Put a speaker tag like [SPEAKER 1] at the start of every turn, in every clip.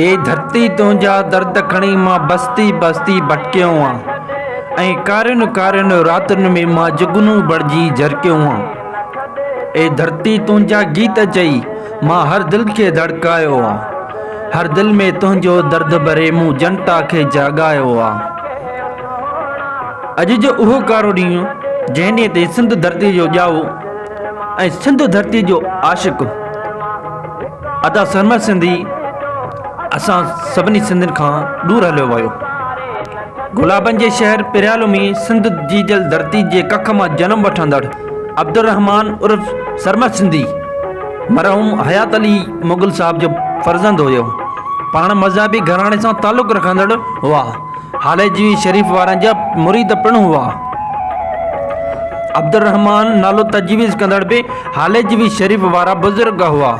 [SPEAKER 1] اي ڌرتي تنهنجا درد کڻي مان بستي بستي ڀٽڪيو هان ۽ ڪارين ڪارين راتن ۾ مان جگنون بڻجي جرڪيو هان اي ڌرتي تنهنجا گيت چئي مان هر دل کي ڌڙڪايو هان هر دل ۾ تنهنجو درد ڀري مون جنتا کي جاڳايو هان اڄ جو اهو ڪارو ڏينهن جنهن ڏينهن تي سنڌ ڌرتي جو ڄائو ۽ سنڌ ڌرتي جو عاشق ادا سرمد سنڌي اسان سڀني سنڌين کان ڏور هليو ويو. گلابن جي شهر پريالو ۾ سنڌ جي جل ڌرتي جي ڪک مان جنم وٺندڙ عبدالرحمان عرف سرمد سنڌي مرحوم حيات علي مغل صاحب جو فرزند هيو. پاڻ مذهبي گهراڻي سان تعلق رکندڙ هئا. هاليجي شريف وارن جا مريد پڻ هئا. عبدالرحمان نالو تجويز ڪندڙ به هاليجي شريف وارا بزرگ هئا.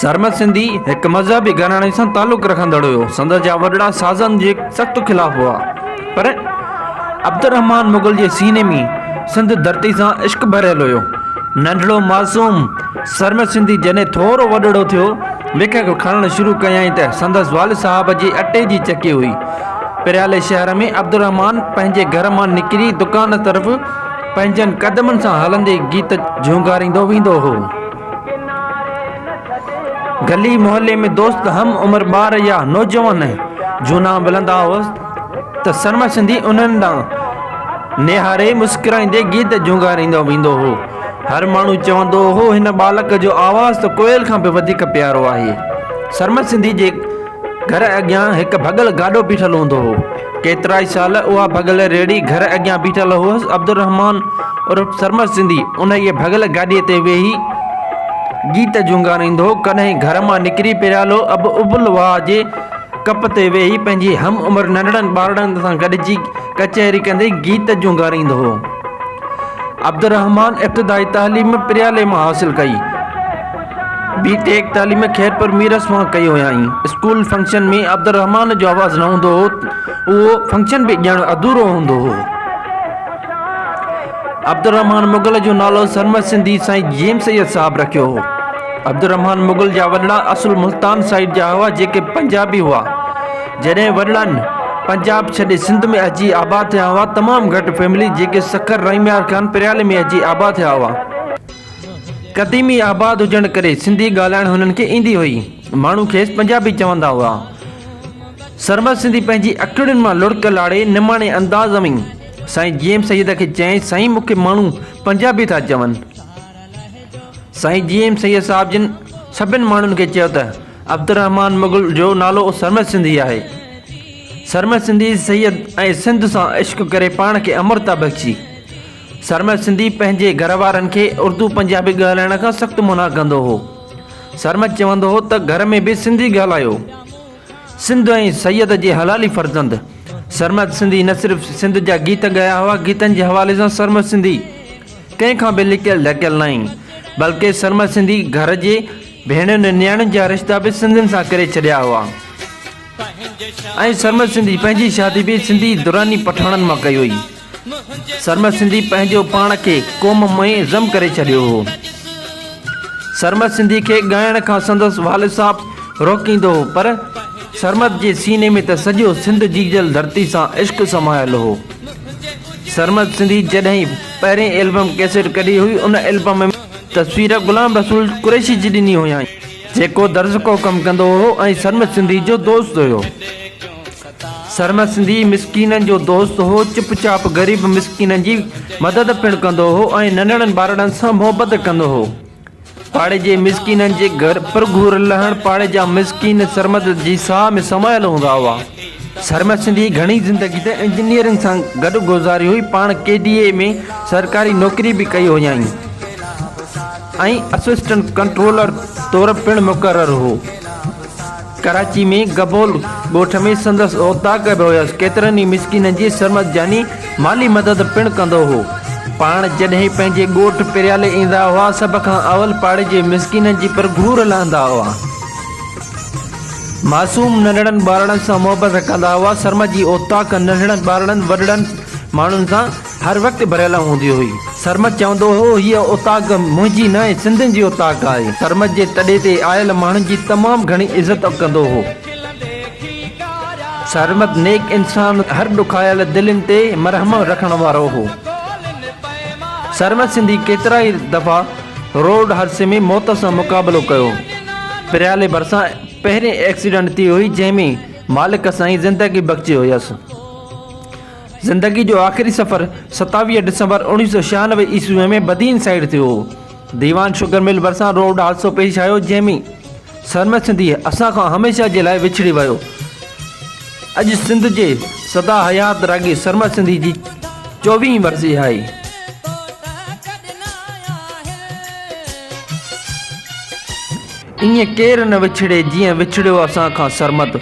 [SPEAKER 1] سرمد سنڌي هڪ مذهبي گهراڻي سان تعلق رکندڙ هيو. سندس جا وڏڙا سازن جي سخت خلاف هئا. پر عبدالرحمان مغل جي سيني ۾ سنڌ ڌرتي سان عشق ڀريل هيو. ننڍڙو معصوم سرمد سنڌي جڏهن ٿورو وڏڙو ٿيو، ليکڪ کڻڻ شروع ڪيائين ته سندس والد صاحب جي اٽي جي چڪي هئي. پريالي شهر ۾ عبدالرحمان پنهنجي گهر مان نڪري دڪان طرف پنهنجن قدمن سان هلندي گيت جهونگاريندو ويندو هو. گلي محلي ۾ دوست هم عمر ٻار يا نوجوان جهونا ملندا هئس ته سرمسندي انهن ڏانهن نهاري مسڪرائيندي گيت جهونگاريندو ويندو هو. هر ماڻهو چوندو هو هن ٻالڪ جو آواز ته ڪوئل کان به وڌيڪ پيارو آهي. سرمد سنڌي جي گهر اڳيان هڪ ڀڳل گاڏو بيٺل هوندو هو. ڪيترائي سال اها ڀڳل ريڙهي گهر اڳيان بيٺل هئس. عبدالرحمان عرف سرمد سنڌي انهيء ڀڳل گاڏيء تي ويهي گيت جهونگاريندو هو. ڪڏهن گهر مان نڪري پيالو اب ابل واء جي ڪپ تي ويهي پنهنجي هم عمر ننڍڙن ٻارڙن سان گڏجي ڪچهري ڪندي گيت جهونگاريندو هو. عبدالرحمان ابتدائي تعليم پريالي مان حاصل ڪئي. بي ٽيڪ تعليم خيرپور ميرس مان ڪئي هيائين. اسڪول فنڪشن ۾ عبدالرحمان جو آواز نه هوندو هو. اهو فنڪشن به ڄڻ اڌورو هوندو هو. عبدالرحمان مغل جو نالو سرمست سنڌي سائين جيم سيد صاحب رکيو هو. عبدالرحمان مغل جا وڏڙا اصل ملتان سائيڊ جا هئا جيڪي پنجابي هئا. جڏهن وڏڙن پنجاب ڇڏي سنڌ ۾ اچي آباد ٿيا هئا تمام گهٽ فيملي جيڪي سکر رحيميار خان پريالي ۾ اچي آباد ٿيا هئا قديمي آباد هجڻ ڪري سنڌي ڳالهائڻ هنن کي ايندي هئي ماڻهو کيس پنجابي چوندا هئا سرمد سنڌي پنهنجي اکڙين مان لڙڪ لاڙي نماڻي انداز ۾ سائين جي ايم سيد کي چيائين سائين مون کي ماڻهو پنجابي ٿا چون سائين جي ايم سيد صاحب جن سڀن ماڻهن کي چيو ته عبدالرحمان مغل جو نالو سرمد سنڌي آهي سرمد سنڌي سيد ۽ سنڌ سان عشق ڪري پاڻ کي امر ٿا بخشي سرمد سنڌي پنهنجي گهر وارن کي اردو پنجابي ڳالهائڻ کان سخت منع ڪندو هو سرمد چوندو هو ته گهر ۾ به سنڌي ڳالهايو سنڌ ۽ سيد جي حلالي فرزند سرمد سنڌي نه صرف سنڌ جا گيت ڳايا هئا گيتن جي حوالي سان سرمد سنڌي ڪنهن کان به لڪيل ڍڪيل ناهي، بلڪه سرمد سنڌي گهر جي ڀيڻين ۽ نياڻين جا رشتا به سنڌين سان ڪري ڇڏيا هئا ۽ سرمد سنڌي پنهنجي شادي به سنڌي دراني پٺاڻن مان ڪئي هئي. سرمد سنڌي پنهنجو پاڻ کي قوم ۾ ضم ڪري ڇڏيو هو. سرمد سنڌي کي ڳائڻ کان سندس والد صاحب روڪيندو هو پر سرمد جي سيني ۾ ته سڄو سنڌ جيجل ڌرتي سان عشق سمايل هو. سرمد سنڌي جڏهن ئي. پهرين البم ڪيسيٽ ڪڍي هئي، ان البم ۾ تصوير غلام رسول قريشي جي ڏني هيائين، جيڪو درزڪو ڪم ڪندو هو ۽ سرمد سنڌي جو دوست هيو. سرمد سنڌي مسڪينن جو دوست هو، چپ چاپ غريب مسڪينن جي مدد پڻ ڪندو هو ۽ ننڍڙن ٻارڙن سان محبت ڪندو هو. پاڙي جي مسڪينن جي گهر پرگهور لهڻ پاڙي جا مسڪين سرمد جي ساهه ۾ سمايل هوندا هئا. سرمد سنڌيء گهڻي زندگي ته انجنيئرنگ سان گڏ گذاري هئي، پاڻ ڪي ڊي اي ۾ سرڪاري نوڪري به ڪئي هيائين ۽ اسسٽنٽ ڪنٽرولر طور پڻ مقرر هو. ڪراچي ۾ گبول ڳوٺ ۾ سندس اوطاق به هيس، ڪيترن ئي مسڪينن جي سرمد جاني مالي مدد پڻ ڪندو هو. پاڻ جڏهن پنهنجي ڳوٺ پريالي ايندا هئا، سڀ کان اول پاڙي جي مسڪينن جي پر گهور لهندا هئا. معصوم ننڍڙن ٻارڙن سان محبت ڪندا هئا، سرمد جي اوطاق ننڍڙن ٻارڙن وڏڙن ماڻهن سان هر وقت ڀريل هوندي هئي. سرمد چوندو هو، هيء اوطاق منهنجي نه ۽ سنڌين جي اوطاق آهي. سرمد جي تڏي تي آيل ماڻهن جي تمام گهڻي عزت ڪندو هو. سرمد نيڪ انسان، هر ڏکايل دلين تي مرحم رکڻ وارو هو. سرمد سنڌي ڪيترائي دفعا روڊ حادثي ۾ موت سان مقابلو ڪيو. پريالي ڀرسان پهرين ايڪسيڊنٽ ٿي هئي، جنهن ۾ مالڪ سائين زندگي بخشي هيس. زندگي جو آخري سفر ستاويهه ڊسمبر اوڻيهه سؤ ڇهانوي عيسويء ۾ بدين سائيڊ ٿيو هو. ديوان شگر مل ڀرسان روڊ حادثو پيش آيو جنهن ۾ سرمد سنڌيء اسان کان هميشه جي لاء وڇڙي ويو. اڄ سنڌ جي سدا حيات راڳي سرمد سنڌيء جي چوويهين ورسي آهي. ائين ڪير نه وڇڙي جيئن وڇڙيو اسان کان سرمد.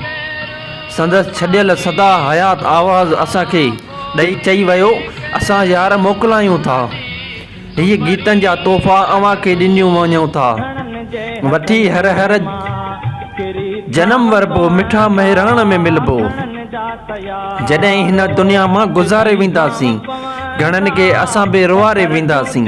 [SPEAKER 1] سندس ڇڏيل سدا حيات آواز اسان کي ڏئي چئي ويو اسان يار موڪلايون ٿا. هي گيتن جا تحفا اوهان کي ڏنيون وڃون ٿا. وٺي هر هر جنم وربو مٺا مهراڻ ۾ ملبو. جڏهن هن دنيا مان گذاري وينداسين گهڻن کي اسان به روئاري وينداسين.